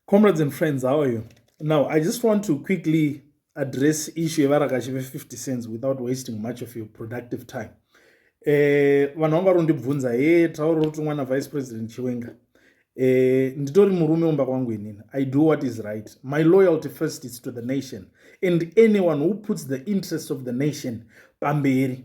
Comrades and friends, how are you? Now, I just want to quickly address issue yevarakashi ve50 cents without wasting much of your productive time. Eh, vanhu vanga varondibvunza he tauro rotumwa navice president chiwenga eh, nditori murume umba kwangu inini i do what is right my loyalty first is to the nation and anyone who puts the interests of the nation pamberi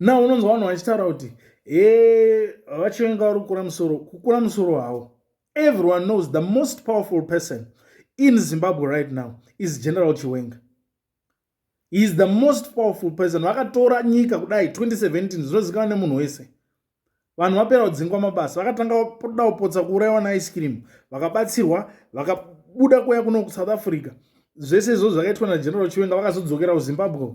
na unonzwa vanhu vachitaura kuti e vachivenga vari kukura musoro kukura musoro havo everyone knows the most powerful person in zimbabwe right now is general chiwenga he is the most powerful person vakatora nyika kudai 2017 zvinozikana nemunhu wese vanhu vapera kudzingwa mabasa vakatanga da kupotsa kuurayiwa naice cream vakabatsirwa vakabuda kuya kuno kusouth africa zvese izvozvo zvakaitwa nageneral chiwenga vakazodzokera kuzimbabwe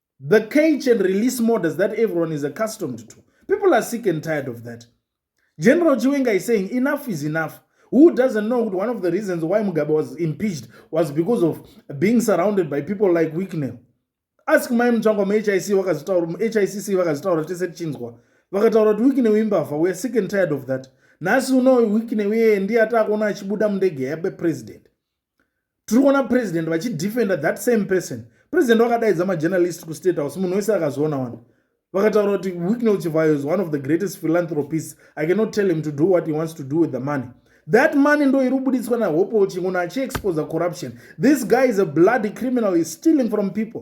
the cage and release models that everyone is accustomed to people are sick and tired of that general chiwenga is saying enough is enough who doesn't know one of the reasons why mugabe was impeached was because of being surrounded by people like wicknell ask mai mutsvangwa muhic vakazitaura muhicc vakazitaura tese tichinzwa vakataura kuti wicknell imbavha weare sick and tired of that nhasi uno wicknell iyeye ndiye ataakuona achibuda mundege yabe president tiri kuona president vachidefenda that same person president vakadaidza majournalist kustate house munhu wese akazoona wani vakataura kuti wicknel chivayo is one of the greatest philanthropist i cannot tell him to do what he wants to do with the money that money ndo iri kubuditswa nahopol chinguno achiexposa corruption this guy is a bloody criminal is stealing from people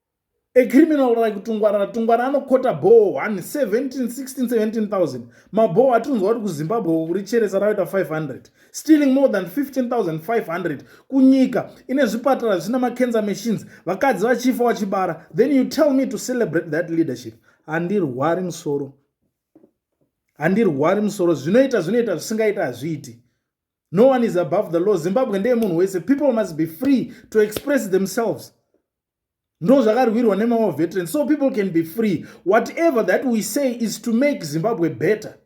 a criminal like tungwarana tungwarana anokota bhoo 117167000 mabhoo atinonzwa kuti kuzimbabwe uko kuri cheresa ravaita 500 stealing more than 15500 kunyika ine zvipatara zvisina macancer machines vakadzi vachifa vachibara then you tell me to celebrate that leadership handirwari musoro handirwari musoro zvinoita zvinoita zvisingaita hazviiti no one is above the law zimbabwe ndeye munhu wese people must be free to express themselves ndo zvakarwirwa nemamwe veteran so people can be free whatever that we say is to make zimbabwe better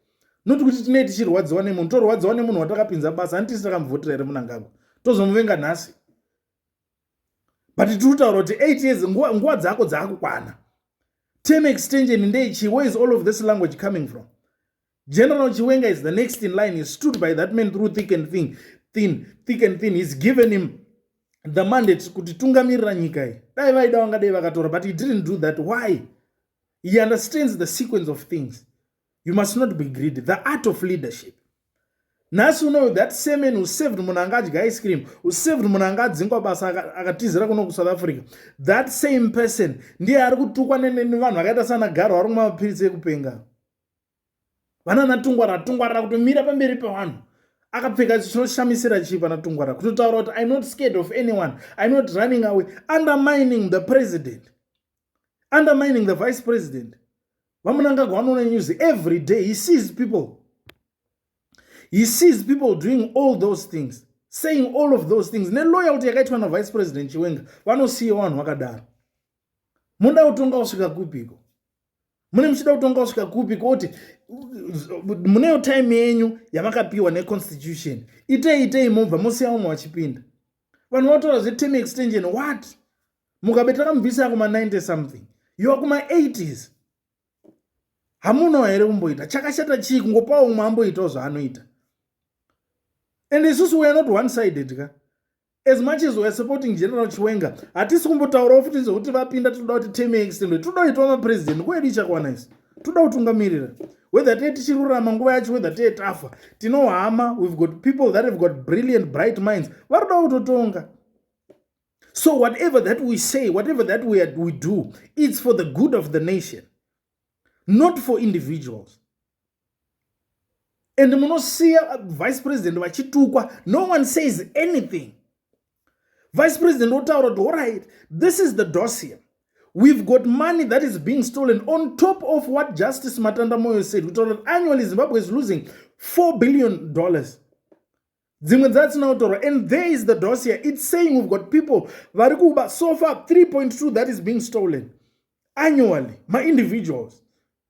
not kuti tinei tichirwadziwa nemunhu torwadziwa nemunhu watakapinza basa ani tisi takamuvhotera here munangagwa tozomuvenga nhasi but tiri kutaura kuti eight years nguva dzako dzaakukwana term extension ndeichii where is all of this language coming from General Chiwenga is the next in line. He stood by that man through thick and thin. Thin, thick and thin. He's given him the mandate kuti tungamirira nyika iyi. Dai vaida vangadai vakatora but he didn't do that. Why? He understands the sequence of things. You must not be greedy. The art of leadership. nhasi unoyo that same man who saved munhu anga adya ice cream who saved munhu anga adzingwa basa akatizira kuno kusouth africa that same person ndiye ari kutukwa nevanhu vakaita sana garo vari kumwa mapiritsi ekupenga vanana tungwarara tungwarara kutomira pamberi pavanhu akapfeka chinoshamisira chii pana tungwarara kutotaura kuti im not scared of anyone im not running away undermining the president undermining the vice president vamunangagwa vanoona news every day he sees people he sees people doing all those things saying all of those things neloyalty yakaitwa navice president chiwenga vanosiya vanhu vakadaro muda kutonga kusvika kupiko mune muchida kutonga kusvika kupi kuti muneyo time yenyu yamakapiwa neconstitution itei itei mobva mosiya vamwe vachipinda vanhu vataura zveterm extension what mukabe takamubvisa kuma 90 something yoa kuma 80s hamunawo here kumboita chakashata chii kungopawo umwe amboitawo zvaanoita and isusu weare not one sided ka as much as weare supporting general chiwenga hatisi kumbotaurawo futi zvekuti vapinda tinoda kuti teme extended tinoda kuitwa mapresident nguva yedu ichakwana isu toda kutungamirira whether tee tichirurama nguva yacho whether tee tafa tinohama we've got people that have got brilliant bright minds varoda kutotonga so whatever that we say whatever that we, are, we do it's for the good of the nation not for individuals and munosiya uh, vice president vachitukwa no one says anything vice president otaura kuti alright this is the dossier we've got money that is being stolen on top of what justice matanda moyo said kutaura kuti annually zimbabwe is losing 4 billion dollars dzimwe dzatsina kutorwa and there is the dossier it's saying we've got people vari kuba so far 3.2 that is being stolen annually maindividuals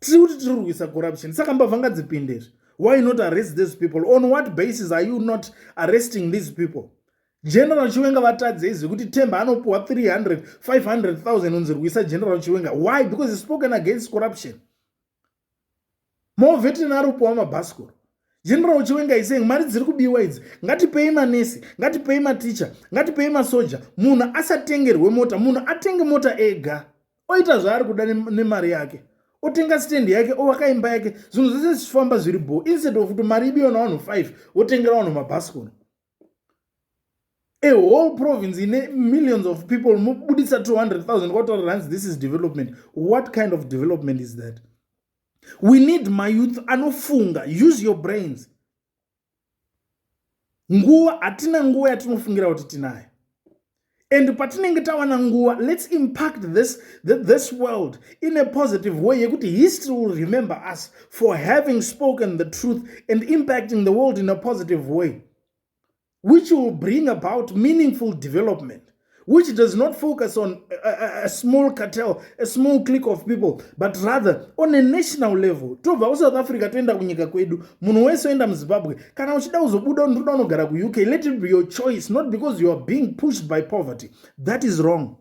tiri kuti tiri kurwisa corruption saka mbavha ngadzipinde izvi why not arrest these people on what basis are you not arresting these people general chiwenga vatadze izvi kuti temba anopiwa 300 500000 unzi rwisa general chiwenga why because he spoken against corruption movetin ari kupiwa mabhasikoro general chiwenga iseng mari dziri kubiwa idzi ngatipei manesi ngatipei maticha ngatipei masoja munhu asatengerwe mota munhu atenge mota ega oita zvaari kuda nemari yake otenga stand yake ovaka imba yake zvinhu zvese zvichifamba zviri bho instead of kuti mari ibiyo navanhu 5 votengera vanhu mabhasikoro a whole province ine millions of people mobudisa 200 000 kwataura ranzi this is development what kind of development is that we need mayouth anofunga use your brains nguva hatina nguva yatinofungira kuti tinayo and patinenge tawana nguva let's impact this, this world in a positive way yekuti history will remember us for having spoken the truth and impacting the world in a positive way which will bring about meaningful development which does not focus on a, a, a small cartel, a small clique of people, but rather on a national level. Tobva kuSouth Africa toenda kunyika kwedu, munhu wese oenda muZimbabwe. Kana uchida kuzobuda unotoda unogara kuUK, let it be your choice, not because you are being pushed by poverty. That is wrong.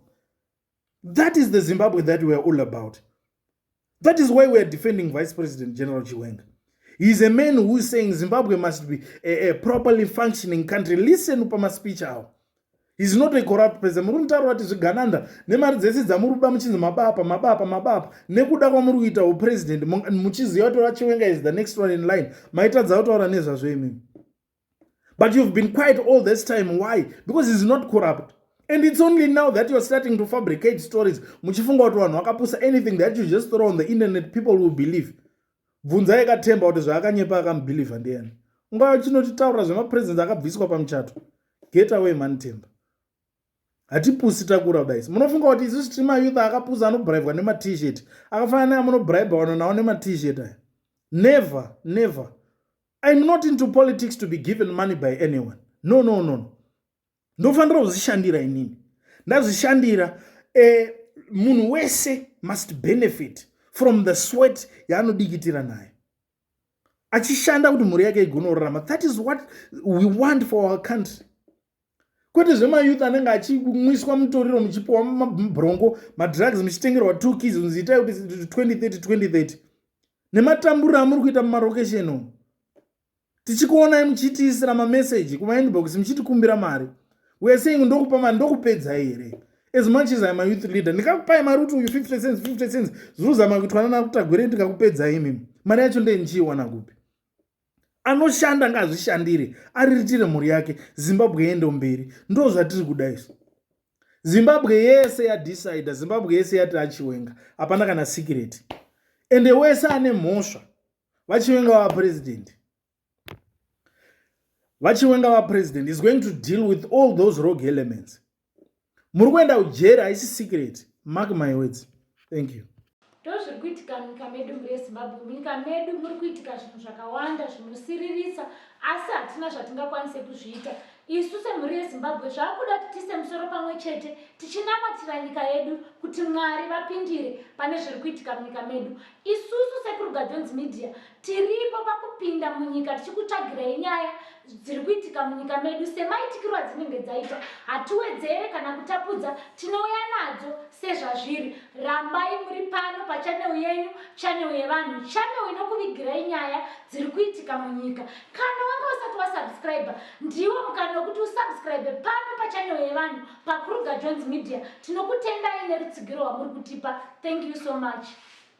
That is the Zimbabwe that we are all about. That is why we are defending Vice President General Chiwenga. He is a man who is saying Zimbabwe must be a, a properly functioning country. Listen to my speech out. He's not a corrupt president. Muri mutauro wati zvigananda nemari dzese dzamuri kuba muchinzi mabapa mabapa mabapa nekuda kwamuri kuita upresident muchiziva kuti vachiwenga is the next one in line maitadza kutaura nezvazvo imimi. but you've been quiet all this time why because is not corrupt and it's only now that you're starting to fabricate stories muchifunga kuti vanhu vakapusa anything that you just throw on the internet people will believe bvunzai katemba kuti zvaakanyepa akamubhilivha ndiyani ungava chinotitaura zvemapresence akabviswa pamuchato get away mani temba hatipusi takura kudais munofunga kuti isu streamer youth akapusa anobribwa nematshirt akafanana neamunobriba wano nawo nematshirt aya never never I'm not into politics to be given money by anyone. No, no, no, no. Ndofanira kuzvishandira inini. Ndazvishandira eh, munhu wese must benefit from the sweat yaanodikitira nayo. Achishanda kuti mhuri yake igonorarama. That is what we want for our country. kwete zvemayouth anenge achimwiswa mutoriro muchipiwa mabrongo madrugs muchitengerwa two kids unzi itai kuti 2030 2030 nematamburiro amuri kuita mumarokesheni umu tichikuonai muchitiisira mameseji kumainbox muchitikumbira mari weare saying ndokupa mari ndokupedzai here as much as im a youth leader ndikakupai mari kuti uyu 50 cents 50 cents zviruzama kuitwanana kutagwere ndikakupedzai imimi mari yacho ndee ndichiiwana kupi anoshanda ngazvishandire ariritire mhuri yake zimbabwe yendo mberi ndo zvatiri kuda isu zimbabwe yese yadecide zimbabwe yese yati achiwenga hapana kana sikireti ende wese ane mhosva vachiwenga vaprezidenti vachiwenga vaprezidenti is going to deal with all those rog elements muri kuenda kujeri haisi secret mark my words thank you ndozviri kuitika munyika medu murezimbabwe munyika medu muri kuitika zvinhu zvakawanda zvinosiririsa asi hatina zvatingakwanise kuzviita isu semhuri yezimbabwe zvaakuda kuti tiise musoro pamwe chete tichinamatira nyika yedu kuti mwari vapindire pane zviri kuitika munyika medu isusu sekurugadhonzi media Tiripo pakupinda munyika tichikutsvagirai nyaya dziri kuitika munyika medu semaitikirwo adzinenge dzaita. Hatiwedzere kana kutapudza, tinouya nadzo sezvazviri. Rambai muri pano pachanel yenyu, chanel yevanhu, chanel inokuvigirai nyaya dziri kuitika munyika. Kana wanga usati wasubscriber, ndiwo mukana wekuti usubscribe pano pachanel yevanhu paKruger Jones Media. Tinokutendai nerutsigiro rwamuri kutipa. Thank you so much.